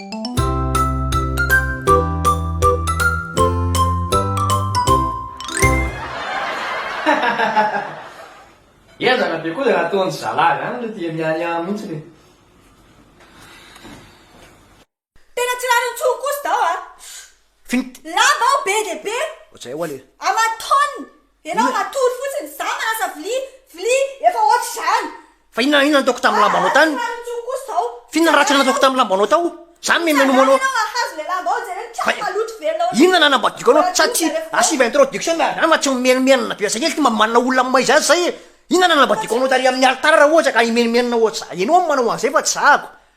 Ezaka be koa le nataony zalah zany aloha dia miahiahy mintsy le. Tena tsy rariny tsony kosa zaho a! Fink. Lava aho be dia be. Ohatr'izay hoa le. Aman-taoniny. Enao matory fotsiny, za manasa vilia, vilia, efa ohatry zany. Fa inona inona nataoko tamin'ny lambanao tany? F'inona ratsy nataoko tamin'ny lambanao tao? Za mimenomo anao. Inona nanambadiako anao? Sa tsy asiva introduction miaraka zany fa tsy mimenomenona be asakely ty mba manana olona amin'ny maha izy azy zay e. Inona nanambadiako anao tary amin'ny alitara raha ohatra ka himenomenona ohatry za. Enao no manao an'zay fa tsy zahako.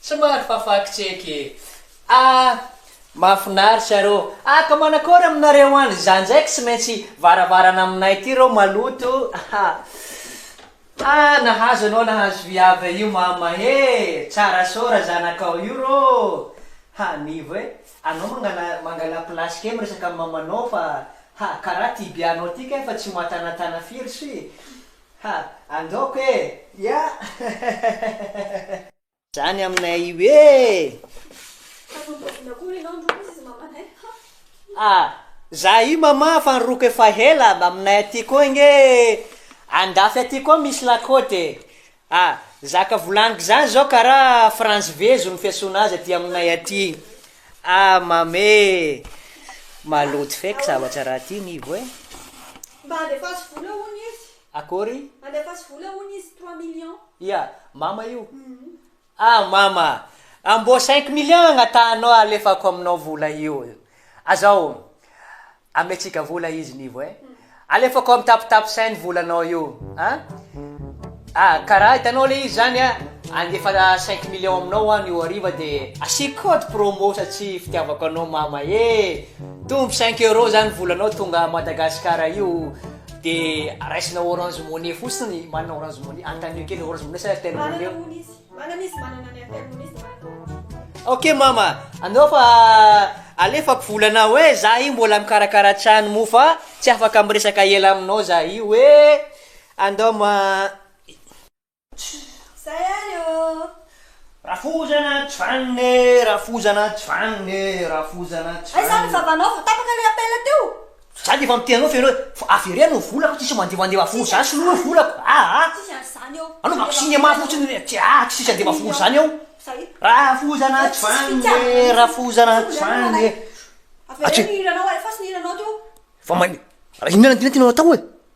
Tsy maro fa fact check e. Ah! Mahafinaritra rô ah ka manakôry aminareo any za ndraiky tsy maintsy varavarana aminay ty rô maloto ah ah nahazo anao nahazo viavy io mama e tsara so ra zanakao io rô ha nivo e anao mangala mangala place kely miresaka am mamanao fa ha kara ty bianao ty kay fa tsy matanatana firy sy ha andaoko e ya hehehehe. Zany aminay io eh! Za io mama fa niroko efa hela aminay aty koa nge andafy aty koa misy lakôty e! zaka volaniko zany zao karaha frantsy vezo ny fiasona azy aty aminay aty ah mama e! maloto feky zavatra raha ty nivo e! Akory? Andefaso vola hono izy trois millions. Ia? Mama io? Ah mama a! Mbô cinq millions agnatahanao alefako aminao vola io. Azao ametsika vola izy nivo e! Alefako am tape tape sain ny volanao io a! Ah kara hitanao le izy zany a! Andefa cinq millions aminao hoan io hariva de asiako code promo satsia fitiavako anao mama e! Tombo cinq euros zany volanao tonga a Madagasikara io Dia raisina orange money fotsiny, manana orange money, antanio kely orange money sa airtel money eo. Manana hono izy, manana izy, manana ny airtel money izy dia manana orange money. Ok mama, anao fa alefako vola anao eh, za io mbola mikarakara trano moa fa tsy afaka miresaka ela aminao za io eh, andao ma. Zay ary ô! Rafozana Jvan e, Rafozana Jvan e, Rafozana Jvan e. Aiza ny vavanao vao tapaka ilay appel teo? Za dia efa miteny anao feno hoe avereno ny volako tsisy mandevandeva volo zany sy noho ny volako aa. Tsisy an'izany eo. Anaovako cinéma fotsiny le tsy aa tsy misy andeva volo zany eo. Rafozana Jvan e, Rafozana Jvan e. Avereno ny hiranao alefaso ny hiranao teo. Fa manin, inona inona tianao atao e?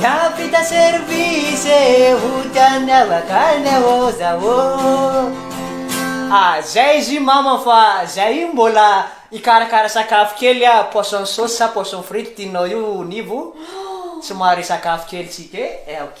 Hiampita service ho tian'ny avaka ny ahoza ô A zay izy i mama fa zay io mbola hikarakara sakafo kely ah poisson sauce sa poisson frite tianao io nivo tsy mahare sakafo kely tsy te eh ok.